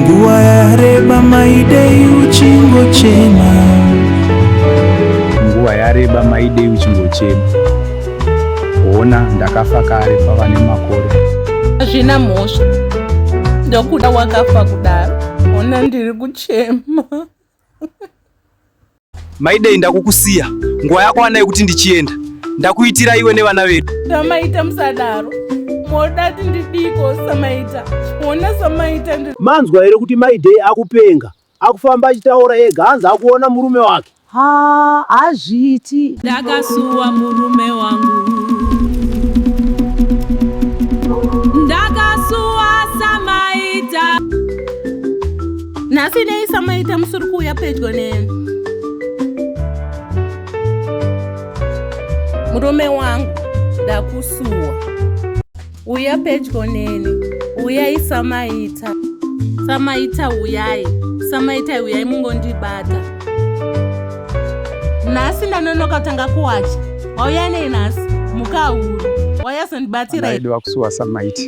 nguva yareba maidei uchingochema nguva yareba maidei uchingochema hona ndakafa kare pava nemakore hazvina mhosva ndokuda wakafa kudaro hona ndiri kuchema Maidei ndakukusiya nguva yako anayo kuti ndichienda ndakuitira iwe nevana vedu samaita musadaro moda ti ndidiko samaita ona samaita manzwa here kuti maidei akupenga akufamba achitaura ega hanzi akuona murume wake ha hazviiti ndakasuwa murume wangu nhasi nei samaita musuri kuuya pedyo neni murume wangu ndakusuwa uya pedyo neni uyai samaita samaita uyai samaita uyai mungondibata nhasi ndanonoka tanga kuwacha wauya nei nhasi mukahuru wayazondibatiraidiwa kusuwa samaita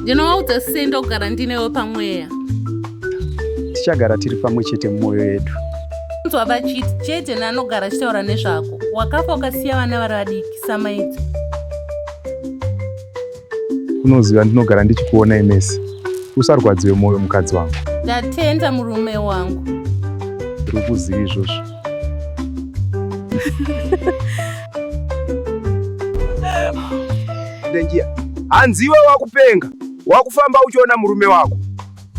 ndinowaudza sendogara ndinewe pamweya tichagara tiri pamwe chete mumwoyo yedu kunzwa vachiti chete naanogara achitaura nezvako wakafa ukasiya vana vari vadiki samaidzi unoziva ndinogara ndichikuona imesi usarwadziwe mwoyo mukadzi wangu ndatenda murume wangu ndiri kuziva izvozvo ndangiya hanziwe wakupenga Wakufamba uchiona murume wako.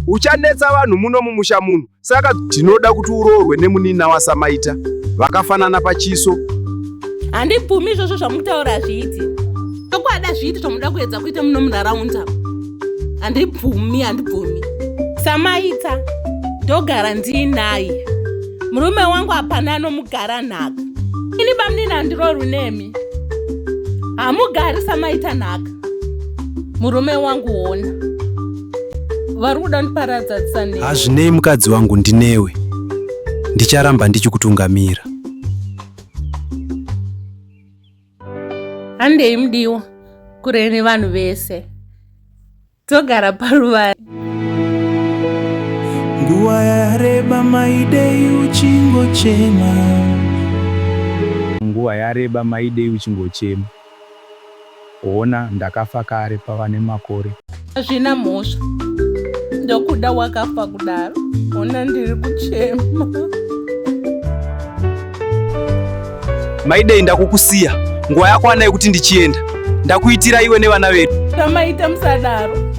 Uchanetsa vanhu muno mumusha muno. Saka tinoda kuti uroorwe nemunina wasamaita. Vakafanana pachiso. Handibvumi izvozvo zvamutaura hazviiti. Chokwadi hazviiti zvamunoda kuedza kuita muno munharaunda. Handibvumi, handibvumi. Samaita ndogara ndiinaye. Murume wangu hapana anomugara nhaka. Ini bamunini handirorwi nemi. Hamugari samaita nhaka. murume wangu hona vari kuda ndiparadza tsane hazvinei mukadzi wangu ndinewe ndicharamba ndichikutungamira handei mudiwa kure nevanhu vese togara paruva nguva yareba maidei uchingochema nguva yareba maidei uchingochema Hona ndakafa kare pava nemakore. Hazvina mhosva ndokuda wakafa kudaro hona ndiri kuchema. Maidei ndakukusiya nguva yakwana yekuti ndichienda ndakuitira iwe nevana vedu. Zvamaita musadaro.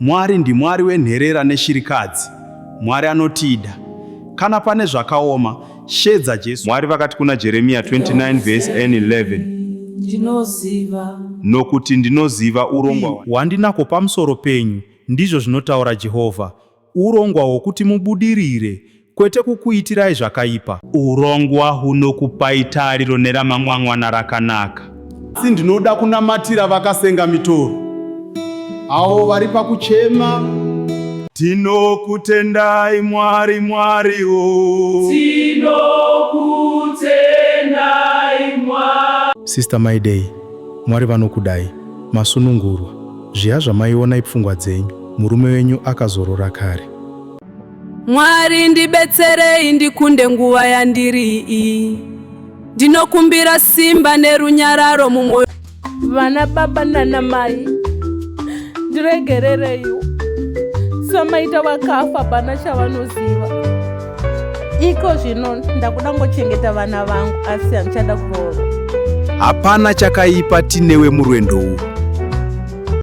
Mwari ndiMwari wenherera neshirikadzi. Mwari anotida. Kana pane zvakaoma, shedza Jesu. Mwari vakati kuna Jeremiya 29 vhesi N 11. Nokuti ndinoziva urongwa hwandinako pamusoro penyu, ndizvo zvinotaura Jehovha, urongwa hwokuti mubudirire, Kwete kukuitirai zvakaipa. Urongwa hunokupai tariro neramangwangwana rakanaka. Asi ndinoda kunamatira vakasenga mitoro, avo vari pakuchema. Tinokutendai Mwari, Mwari o. Tinokutendai Mwari. Sister Maidei, Mwari vanokudai. Masunungurwa. Zviya zvamaiona ipfungwa dzenyu. Murume wenyu akazorora kare. Mwari ndibetserei ndikunde nguva yandiri iyi. Ndinokumbira simba nerunyararo mumwoyo. Vana baba nana mai ndiregerereiwo samaita vakafa pana chavanoziva iko zvino ndakuda ngochengeta vana vangu asi handichada kurova. Hapana chakaipa tinewe murwendo uwu.